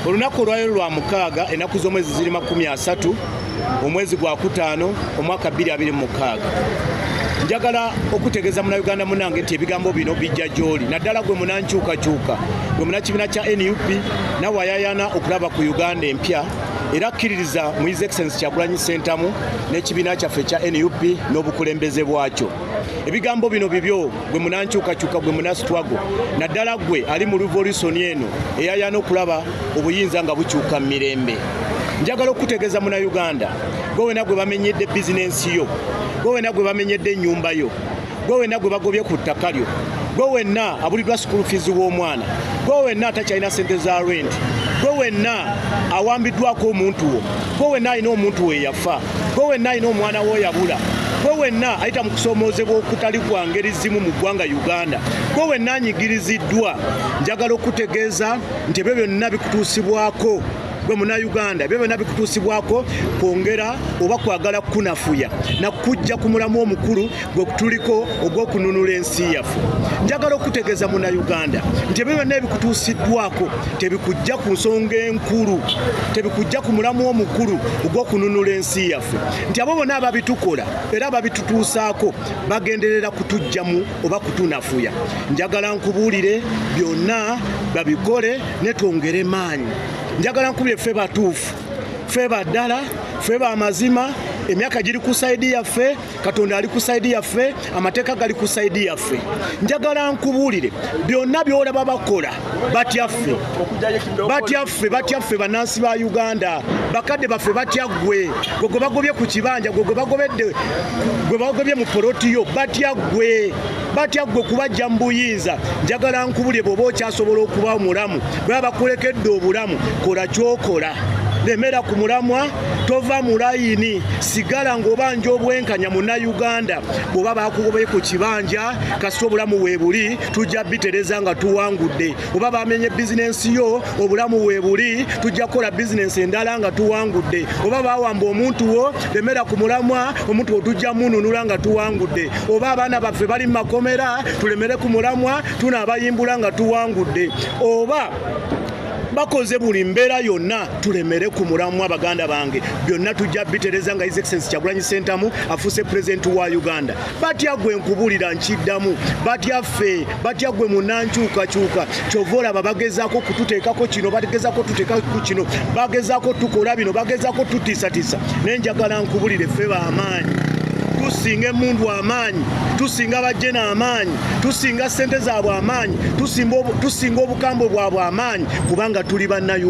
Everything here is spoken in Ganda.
olunaku olwaliro lwa mukaaga ennaku z'omwezi ziri makumi asatu omwezi gwa kutaano omwaka 226 njagala okutegeeza munauganda munange nti ebigambo bino bijja gy'oli naddala gwe munankyukakyuka gwe munakibiina kya nup nawe ayayana okulaba ku uganda empya era akkiririza mu his excellence kyagulanyi ssentamu n'ekibiina kyaffe ekya nup n'obukulembeze bwakyo ebigambo bino bibyo gwe munankyukakyuka gwe munasitwago naddala gwe ali mu revolusoni eno eyayana okulaba obuyinza nga bukyuka mu mirembe njagala okukutegeeza munauganda gwe wena gwe bamenyedde bizinensi yo gwe wena gwe bamenyedde ennyumba yo gwe wena gwe bagobye ku ttaka lyo gwe wenna abulidwa school fees w'omwana gwe wenna atakyalina sente za rent gwe wenna awambiddwako omuntu wo gwe wenna alina omuntu weyafa gwe wenna alina omwana wo yabula gwe wenna ayita mu kusoomoozebwa okutali kwa ngeri zimu mu ggwanga uganda gwe wenna anyigiriziddwa njagala okutegeeza nti ebyo byonna bikutuusibwako gwe munauganda ebyo byonna bikutuusibwako kwongera oba kwagala kukunafuya nakukujja ku mulamu omukulu gwe kutuliko ogw'okununula ensi yaffe njagala okutegeeza munauganda nti ebyo byonna ebikutuusiddwako tebikujja ku nsonga enkulu tebikujja ku mulamu omukulu ogw'okununula ensi yaffe nti abo bona ababitukola era ababitutuusaako bagenderera kutujjamu oba kutunafuya njagala nkubuulire byonna babikole netwongere maanyi njagala nkubire ffe batuufu ffe baddala ffe bamazima emyaka giri ku saidi yaffe katonda ali ku saidi yaffe amateeka gali ku saidi yaffe njagala nkubuulire byonna byolaba bakola batyaffe batyaffe batyaffe bannansi ba uganda bakadde baffe batya ggwe gwe gwe bagobye ku kibanja gwe gwe bagobedde gwe bagobye mu polotiyo batya ggwe batya ggwe kubajja mu buyinza njagala nkubulire bwoba okyasobola okuba omulamu bweba bakulekedde obulamu kola kyokola lemera ku mulamwa tova mu layini sigala ng'obanja obwenkanya munnayuganda bw'oba bakugobaye ku kibanja kasita obulamu weebuli tujja bitereza nga tuwangudde oba bamenye bizinensi yo obulamu weebuli tujja kukola bizinensi endala nga tuwangudde oba bawamba omuntu wo lemera ku mulamwa omuntu wo tujja mununula nga tuwangudde oba abaana baffe bali mu makomera tulemere ku mulamwa tunaabayimbula nga tuwangudde oba bakoze buli mbeera yonna tulemere ku mulamwa baganda bange byonna tujja bitereza nga his excellence kyagulanyi sentamu afuuse pulezidenti wa uganda batya gwe nkubulira nkiddamu batya ffe batya gwe munankyukakyuka kyova olaba bagezaako kututeekako kino bagezako tuteekaku kino bagezako tukola bino bagezako tutiisatiisa naye njagala nkubulire ffe bamaanyi tusinga emundu amaanyi tusinga bajjena amaanyi tusinga ssente zaabwe amaanyi tusinga obukambwe bwabwe amaanyi kubanga tuli bannayuganda